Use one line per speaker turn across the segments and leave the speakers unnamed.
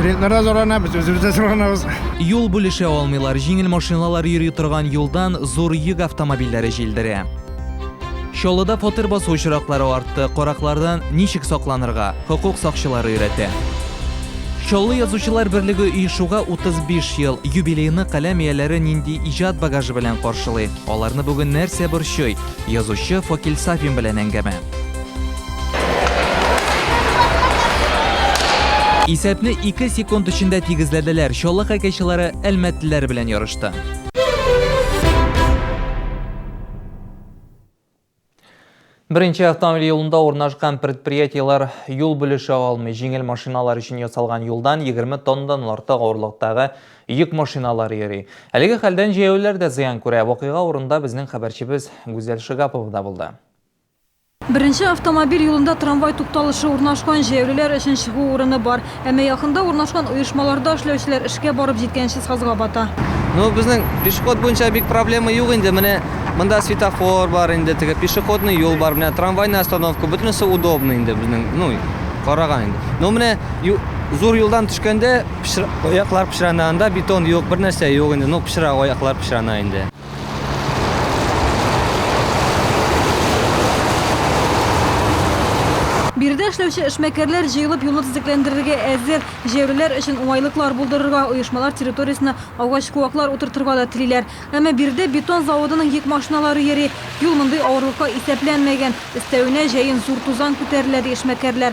Клиентларда зарланабыз, үзебездә зарланабыз. Юл бүлешә
алмыйлар, җиңел машиналар йөри торган юлдан зур йөк автомобильләре җилдерә. Чаллыда фатир басу очраклары артты, караклардан ничек сакланырга, хокук сакчылары өйрәтә. Чаллы язучылар берлеге оешуга 35 ел, юбилейны каләм ияләре нинди иҗат багажы белән каршылый? Аларны бүген нәрсә борчый? Язучы Факил Сафин белән әңгәмә. Исәпне 2 секунд эчендә тигезләделәр. Чаллы хоккейчылары әлмәтлеләр белән ярышты. Беренче автомобиль юлында урнашкан предприятиелар юл бүлеше алмый. Җиңел машиналар өчен ясалган юлдан 20 тоннадан артык авырлыктагы йөк машиналары йөри. Әлеге хәлдән җәяүләр дә зыян күрә. Вакыйга урында безнең хәбәрчебез Гүзәл Шигапова да булды. Беренче
автомобиль юлында трамвай тукталышы урнашкан, җәяүлеләр өчен чыгу урыны бар. Әмма якында урнашкан оешмаларда эшләүчеләр эшкә барып җиткәнче сазга бата. Ну, безнең
пешеход буенча бик проблема юк инде. Менә монда светофор бар инде, теге пешеходный юл бар, менә трамвайный остановка, бөтенесе удобный инде безнең, ну, караган инде. Но менә зур юлдан төшкәндә аяклар пычрана, анда бетон юк, бернәрсә юк инде, ну, пычрак, аяклар пычрана инде.
Биредә эшләүче эшмәкәрләр җыелып юлны төзекләндерергә әзер. Җәяүлеләр өчен уңайлыклар булдырырга, оешмалар территориясенә агач-куаклар утыртырга да телиләр. Әмма биредә бетон заводының йөк машиналары йөри. Юл мондый авырлыкка исәпләнмәгән. Өстәвенә, җәен зур тузан күтәрелә, ди эшмәкәрләр.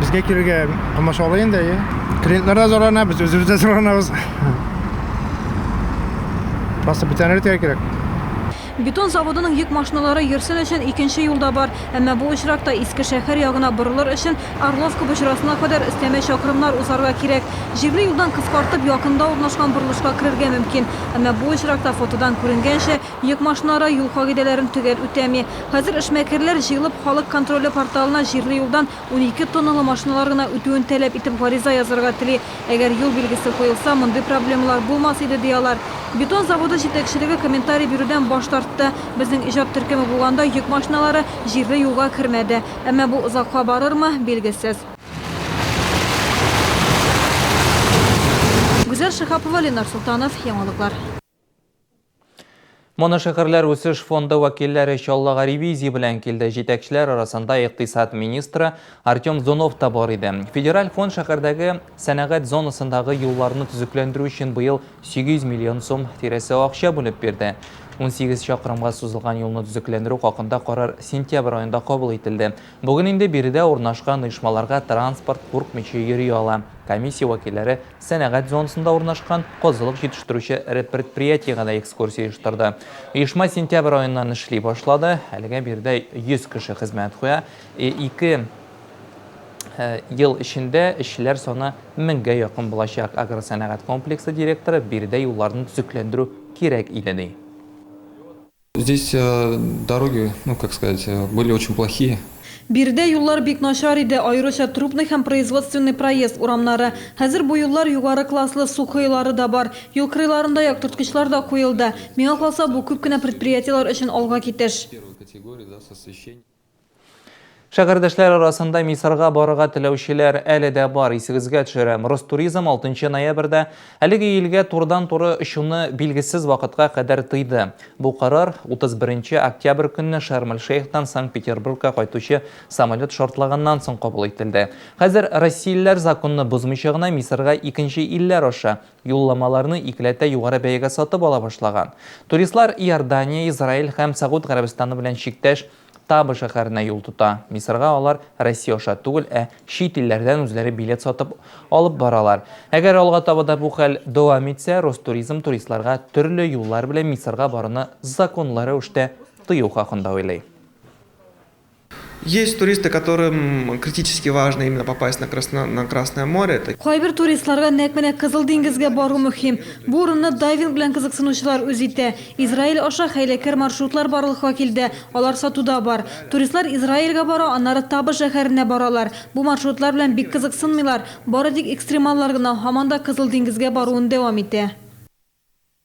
Безгә килергә
комачаулый инде, әйе. Клиентлар да зарлана, без үзебез дә зарланабыз. Просто бетәнер итәргә кирәк. Бетон
заводының йөк машиналары йөрсен өчен икенче юл да бар. Әмма бу очракта Иске шәһәр ягына борылыр өчен Орловка боҗрасына кадәр өстәмә чакрымнар узарга кирәк. Җирле юлдан кыскартып, якында урнашкан борылышка керергә мөмкин. Әмма бу очракта фотодан күренгәнчә, Йөк машиналары юл кагыйдәләрен төгәл үтәми. Хәзер эшмәкәрләр җыелып Халык контроле порталына җирле юлдан унике тонналы машиналар гына үтүен таләп итеп гариза язарга тели. Әгәр юл билгесе куелса, мондый проблемалар булмас иде, ди алар. Бетон заводы җитәкчелеге комментарий бирүдән баш тартты. Безнең иҗат төркеме булганда йөк машиналары җирле юлга кермәде. Әмма бу озакка барырмы, билгесез. Гүзәл Шиһапова, Ленар Солтанов, Яңалыклар.
Моношәһәрләр үсеш фонды вәкилләре Чаллыга ревизия белән килде. Җитәкчеләр арасында икътисад министры Артем Зунов та бар иде. Федераль фонд шәһәрдәге сәнәгать зонасындагы юлларны төзекләндерү өчен быел 800 миллион сум тирәсе акча бүлеп бирде. 18 чакрымга сузылган юлны төзекләндерү хакында карар сентябрь аенда кабул ителде. Бүген инде биредә урнашкан оешмаларга транспорт куркмыйча йөри ала. Комиссия вәкилләре сәнәгать зонасында урнашкан козылык җитештерүче эре предприятиегә дә экскурсия оештырды. Оешма сентябрь аеннан эшли башлады. Әлегә биредә 100 кеше хезмәт куя. Ике ел эчендә эшчеләр саны меңгә якын булачак. Агросәнәгать комплексы директоры биредә юлларны төзекләндерү кирәк иде, ди.
Здесь дороги, ну, как сказать, были очень плохие. Биредә юллар
бик начар иде, аеруча Трубный һәм Производственный проезд урамнары. Хәзер бу юллар югары класслы, су коелары да бар. Юл кырыйларында яктырткычлар да куелды. Миңа калса, бу күп кенә предприятиеләр өчен алга китеш.
Шәгәрдәшләр арасында Мисырга барырга теләүчеләр әле дә бар. Исегезгә төшерәм, Ростуризм 6 ноябрьдә әлеге илгә турыдан-туры очуны билгесез вакытка кадәр тыйды. Бу карар 31 октябрь көнне Шарм-эль-Шейхтан Санкт-Петербургка кайтучы самолет шартлаганнан соң кабул ителде. Хәзер россиялеләр законны бозмыйча гына Мисырга икенче илләр аша юлламаларны икеләтә югары бәягә сатып ала башлаган. Туристлар Иордания, Израиль һәм Согуд Гарәбстаны белән чиктәш Таба шәһәренә юл тота. Мисырга алар Россия аша түгел, ә чит илләрдән үзләре билет сатып алып баралар. Әгәр алга таба да бу хәл дәвам итсә, Ростуризм туристларга төрле юллар белән Мисырга баруны законлы рәвештә тыю хакында уйлый.
Есть туристы, которым критически важно именно попасть на красно на Красное море, это. Кайбер туристларга нәкъ
менә Кызыл диңгезгә бару мөһим. Бу урынны дайвинг белән кызыксынучылар үз итә. Израиль аша хәйләкәр маршрутлар барлыкка килде, алар сатуда бар. Туристлар Израильгә бара, аннары Таба шәһәренә баралар. Бу маршрутлар белән бик кызыксынмыйлар, бары тик экстремаллар гына һаман да Кызыл диңгезгә баруын дәвам итә.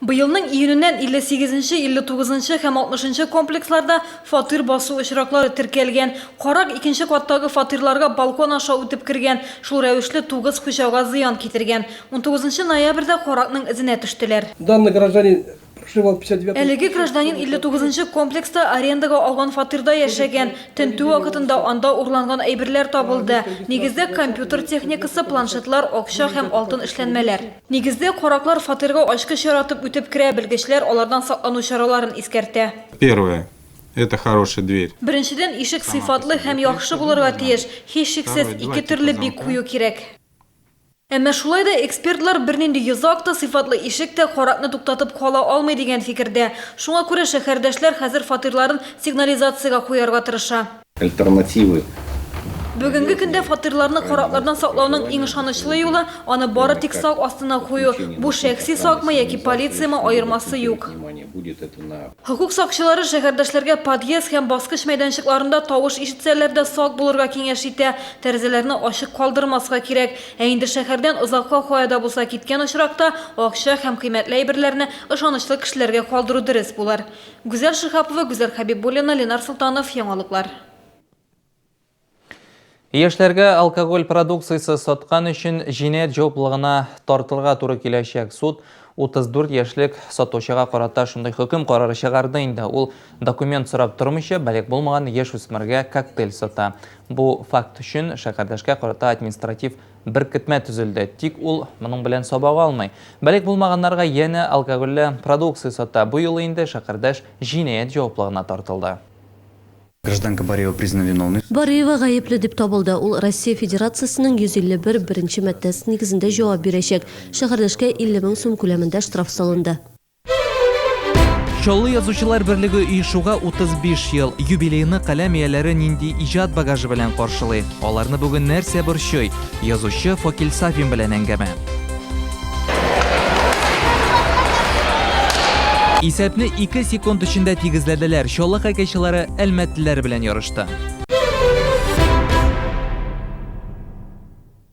Быелның
июненнән 58 нче, 59 нчы һәм 60 нчы комплексларда фатир басу очраклары теркәлгән. Карак икенче каттагы фатирларга балкон аша үтеп кергән, шул рәвешле тугыз хуҗага зыян китергән. 19 нчы ноябрьдә каракның эзенә төштеләр. Данный гражданин
проживал в 59 нчы. Әлеге гражданин 59
нчы комплекста арендага алган фатирда яшәгән. Тентү вакытында анда урланган әйберләр табылды. Нигездә компьютер техникасы, планшетлар, акча һәм алтын эшләнмәләр. Нигездә, караклар фатирга ачкыч яратып үтеп керә, белгечләр алардан саклану чараларын искәртә. Первое,
это хорошая дверь. Беренчедән, ишек
сыйфатлы һәм яхшы булырга тиеш. Һичшиксез, ике төрле бик кую кирәк. Әмма шулай да экспертлар бернинди йозак та, сыйфатлы ишек тә каракны туктатып кала алмый дигән фикердә. Шуңа күрә шәһәрдәшләр хәзер фатирларын сигнализациягә куярга тырыша. Альтернативы. Бүгенге көндә фатирларны караклардан саклауның иң ышанычлы юлы, аны бары тик сак астына кую. Бу шәхси сакмы яки полициямы, аермасы юк. Хокук сакчылары шәһәрдәшләргә подъезд һәм баскыч мәйданчыкларында тавыш ишетсәләр дә сак булырга киңәш итә. Тәрәзәләрне ачык калдырмаска кирәк. Ә инде шәһәрдән озакка кая да булса киткән очракта, акча һәм кыйммәтле әйберләрне ышанычлы кешеләргә калдыру дөрес булыр. Гүзәл Шиһапова, Гүзәл Хәбибуллина, Ленар Солтанов, Яңалыклар.
Яшьләргә алкоголь продукциясе саткан өчен җинаять җаваплылыгына тартылырга туры киләчәк. Суд 34 яшьлек сатучыга карата шундый хөкем карары чыгарды инде. Ул документ сорап тормыйча, балигъ булмаган яшүсмергә коктейль сата. Бу факт өчен шәһәрдәшкә карата административ Беркетмә төзелде, тик ул моның белән сабак алмый. Балигъ булмаганнарга янә алкогольле продукция сата. Бу юлы инде Шәкердәш җинаять җаваплыгына тартылды.
Гражданка Бариева признана виновной. Бариева гаепле дип
табылды. Ул Россия Федерациясенең 151 беренче маддәсе нигезендә җавап бирәчәк. Шәкердәшкә 50 мең сум күләмендә штраф салынды.
Чаллы язучылар берлеге оешуга 35 ел юбилейны каләм ияләре нинди иҗат багажы белән каршылый? Аларны бүген нәрсә борчый? Язучы Факил Сафин белән әңгәмә. Исәпне 2 секунд эчендә тигезләделәр. Чаллы хоккейчылары әлмәтлеләр белән ярышты.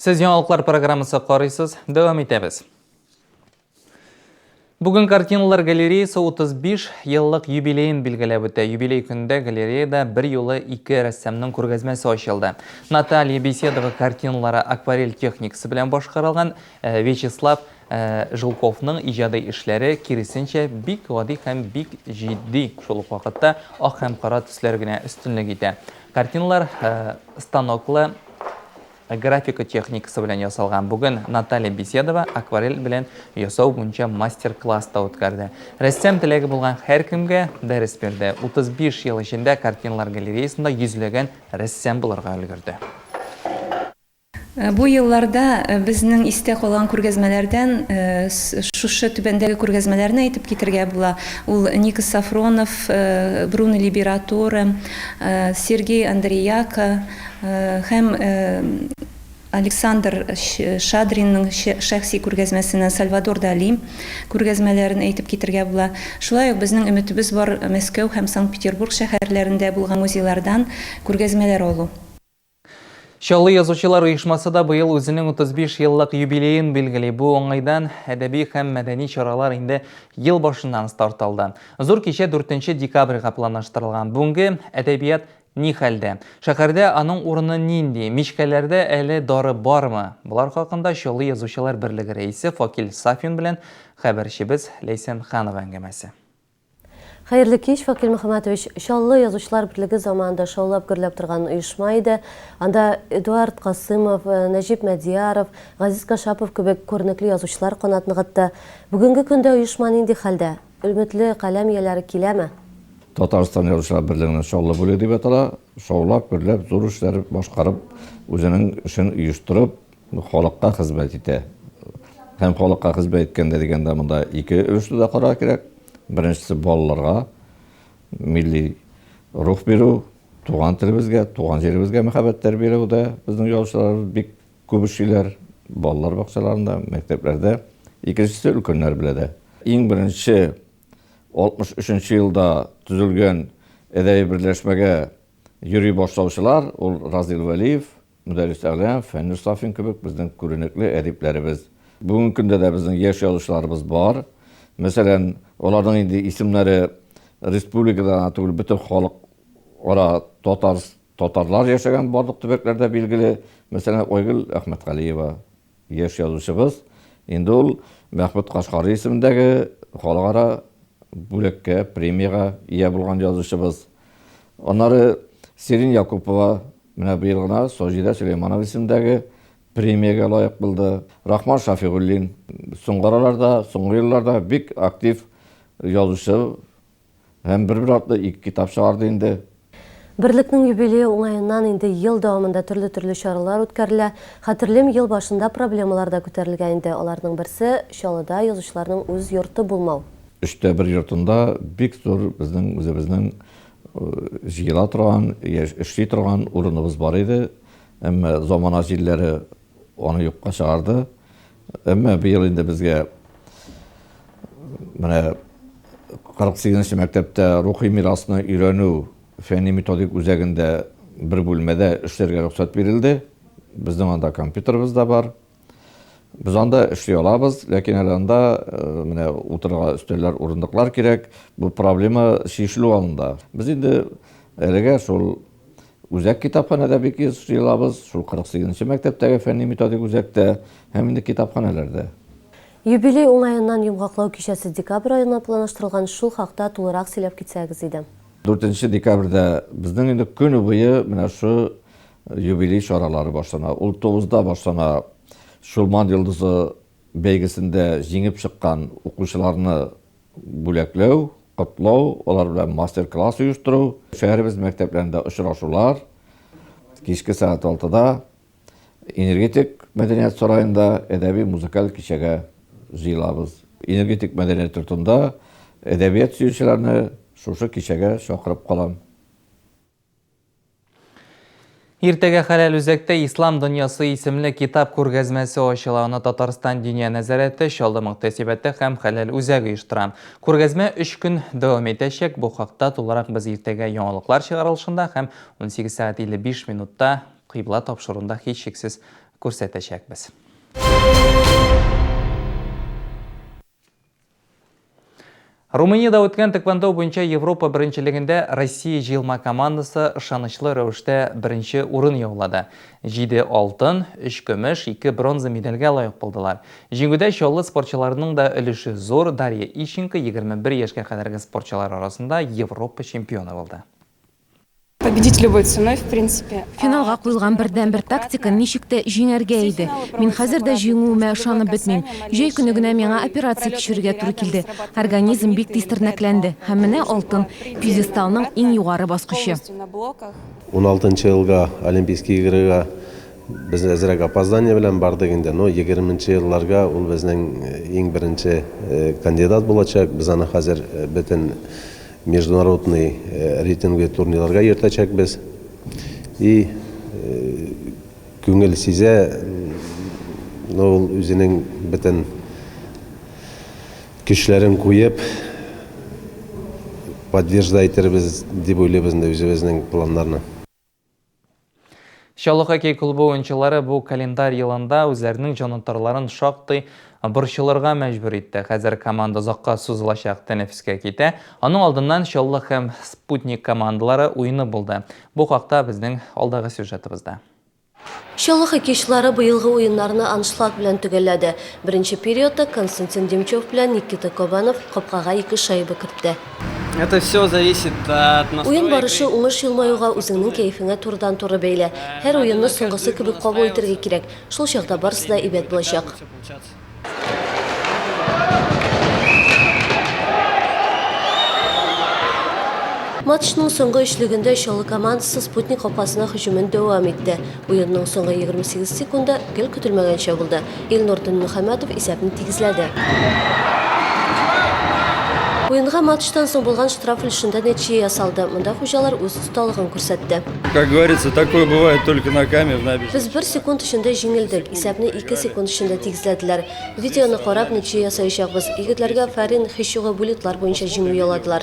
Сез яңалыклар программасы карыйсыз, дәвам итәбез. Бүген картиналар галереясы 35 еллык юбилеен билгеләп үтә. Юбилей көндә галереяда бер юлы ике рәссамның күргәзмәсе ачылды. Наталья Беседова картиналары акварель техникасы белән башкарылган, э, Вячеслав Ә Жилковның иҗади эшләре, киресенчә, бик гади һәм бик җитди, шул ук вакытта ак һәм кара төсләр генә өстенлек итә. Картиналар станоклы графика техникасы белән ясалган. Бүген Наталья Беседова акварель белән ясау буенча мастер-класс та үткәрде. Рәссам теләге булган һәркемгә дәрес бирде. 35 ел эчендә картиналар галереясында йөзләгән рәссам булырга өлгерде.
Бу елларда безнең истә калган күргәзмәләрдән шушы түбәндәге күргәзмәләрне әйтеп китергә була, ул Никос Софронов, Бруно Либературе, Сергей Андреяко һәм Александр Шадринның шәхси күргәзмәсеннән Сальвадор Дали күргәзмәләрен әйтеп китергә була. Шулай ук безнең өметебез бар Мәскәү һәм Санкт-Петербург шәһәрләрендә булган музейлардан күргәзмәләр алу.
Чаллы язучылар оешмасы да быел үзенең 35 еллык юбилеен билгели. Бу уңайдан әдәби һәм мәдәни чаралар инде ел башыннан старт алды. Зур кичә 4 декабрьгә планлаштырылган. Бүгенге әдәбият ни хәлдә? Шәһәрдә аның урыны нинди? Мичкәләрдә әле дары бармы? Болар хакында Чаллы язучылар берлеге рәисе Факил Сафин белән хәбәрчебез Ләйсән Ханова әңгәмәсе. Хәерле
кич, Факил Мөхәммәтович. Чаллы язучылар берлеге заманында шаулап гөрләп торган оешма иде. Анда Эдуард Касымов, э, Нәҗип Мәдияров, Газиз Кашапов кебек күренекле язучылар канат ныгытты. Бүгенге көндә оешма нинди хәлдә? Өметле каләм ияләре киләме? Татарстан
язучылар берлегенең Чаллы бүлеге дип атала. Шаулап, гөрләп, зур эшләр башкарып, үзенең эшен оештырып, Халыкка хезмәт итә. Һәм халыкка хезмәт иткәндә дигәндә монда ике өлешне дә карар кирәк. Беренчесе балаларга милли рух бирү, туган телебезгә, туган җиребезгә мәхәббәт тәрбияләүдә безнең язучылар бик күп эшлиләр, балалар бакчаларында, мәктәпләрдә. Икенчесе өлкәннәр белән дә. Иң беренче 63 елда төзелгән әдәби берләшмәгә йөри башлаучылар, ул Разил Вәлиев, Мөдәррис Әгълам, Фәннүр Сафин кебек безнең күренекле әдипләребез. Бүгенге көндә дә безнең яшь язучыларыбыз бар. Мәсәлән, аларның инде исемнәре республикада гына түгел, бөтен халык ара татар, татарлар яшәгән барлык төбәкләрдә билгеле. Мәсәлән, Айгөл Әхмәтгалиева. Яшь язучыбыз инде ул Мәхмүт Кашкари исемендәге халыкара бүләккә, премиягә ия булган язучыбыз. Аннары Сирин Якупова менә быел гына Саҗидә Сөләйманова исемендәге премиягә лаек булды. Рахман Шафигуллин, соңгы араларда, соңгы елларда бик актив язучы Һәм бер-бер артлы ике китап чыгарды инде. Берлекнең
юбилее уңаеннан инде ел дәвамында төрле-төрле чаралар үткәрелә. Хәтерлим, ел башында проблемалар да күтәрелгән иде. Аларның берсе, Чаллыда язучыларның үз йорты булмау. Өчтә бер йортында
бик зур безнең үзебезнең җыела торган, яшь, эшли торган урыныбыз бар иде. Әмма замана җилләре Аны юкка чыгарды. Әмма быел инде безгә менә 48 нче мәктәптә рухи мирасны өйрәнү фәнни-методик үзәгендә бер бүлмәдә эшләргә рөхсәт бирелде. Безнең анда компьютерыбыз да бар. Без анда эшли алабыз, ләкин әле анда э, менә утырырга өстәлләр, урындыклар кирәк. Бу проблема чишелү алында. Без инде әлегә шул Үзәк китапханәдә бик еш җыелабыз, шул 48 нче мәктәптәге фәнни-методик үзәктә һәм инде китапханәләрдә. Юбилей
уңаеннан йомгаклау кичәсе декабрь аена планлаштырылган, шул хакта тулырак сөйләп китсәгез иде. Дүртенче декабрьдә
безнең инде көне буе менә шу юбилей чаралары башлана. Ул тугызда башлана, Чулман йолдызы бәйгесендә җиңеп чыккан укучыларны Бүләкләү, котлау, алар белән мастер-класс оештыру, шәһәребез мәктәпләрендә очрашулар, кичке сәгать алтыда Энергетик мәдәният сараенда әдәби-музыкаль кичәгә җыелабыз. Энергетик мәдәният йортында әдәбият сөючеләрне шушы кичәгә чакырып калам.
Иртәгә Хәләл үзәктә Ислам дөньясы исемле китап күргәзмәсе ачыла. Аны Татарстан Диния нәзарәте, Чаллы мөхтәсибәте һәм Хәләл үзәге оештыра. Күргәзмә өч көн дәвам итәчәк. Бу хакта тулырак без иртәгә яңалыклар чыгарылышында һәм 18 сәгать 55 минутта кыйбла тапшыруында һичшиксез күрсәтәчәкбез. Румыниядә үткән тэквондо буенча Европа беренчелегендә Россия җыелма командасы ышанычлы рәвештә беренче урын яулады. Җиде алтын, өч көмеш, ике бронза медальгә лаек булдылар. Җиңүдә чаллы спортчыларының да өлеше зур, Дарья Ищенко егерме бер яшькә кадәрге спортчылар арасында Европа чемпионы булды. Победить
любой ценой, в принципе. Финалга куелган
бердәнбер тактика ничек тә җиңәргә иде. Мин хәзер дә җиңүемә ышанып бетмим. Җәй көне генә миңа операция кичерергә туры килде. Организм бик тиз тернәкләнде. Һәм менә алтын, пьедесталның иң югары баскычы.
Уналтынчы елга Олимпийские игрыга без әзрәк опоздание белән бардык инде, но егерменче елларга ул безнең иң беренче кандидат булачак. Без аны хәзер бөтен Международный рейтинглы турнирларга йөртәчәкбез. И күңел сизә, ул үзенең бөтен көчләрен куеп, поддержда итербез дип уйлыйбыз инде үзебезнең планнарны.
Чаллы хоккей клубы уенчылары бу календарь елында үзләренең җанатарларын шактый борчылырга мәҗбүр итте. Хәзер команда озакка сузылачак тәнәфескә китә. Аның алдыннан Чаллы һәм Спутник командалары уены булды. Бу хакта безнең алдагы сюжетыбызда. Чаллы
хоккейчылары быелгы уеннарны аншлаг белән төгәлләде. Беренче периодта Константин Демчев белән Никита Кабанов капкага ике шайба кертте.
Уен барышы, уңыш
елмаюга, үзеңнең кәефеңә турыдан-туры бәйле. Һәр уенны соңгысы кебек кабул итәргә кирәк. Шул чакта барысы да әйбәт булачак. Матчның соңгы өчлегендә Чаллы командасы Спутник капкасына һөҗүмен дәвам итте. Уенның соңгы 28 секунды гел көтелмәгәнчә булды. Илнур Төнмөхәммәтов исәпне тигезләде. Уенга матчтан соң булган штраф өлешендә нәтиҗә ясалды. Монда хуҗалар үз осталыгын күрсәтте. Как говорится,
такое бывает только на каме в набережной. Без бер секунд эчендә
җиңелдек. Исәпне ике секунд эчендә тигезләделәр. Видеоны карап, нәтиҗә ясаячакбыз. Егетләргә Фәрин Хищуга буллитлар буенча җиңү яуладылар.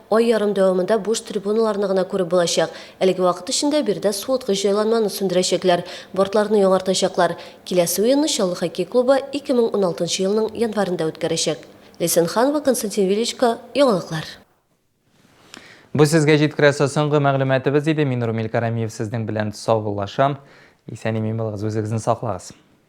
Ай ярым дәвамында буш трибуналарны гына күреп булачак. Әлеге вакыт эчендә биредә суыткыч җайланманы сүндерәчәкләр, бортларны яңартачаклар. Киләсе уенны Чаллы хоккей клубы 2016 елның январендә үткәрәчәк. Ләйсән Ханова, Константин Величко, яңалыклар.
Бу сезгә җиткерәсе соңгы мәгълүматыбыз иде. Мин Румил Карамиев сезнең белән саубуллашам. Исән-имин булыгыз, үзегезне саклагыз.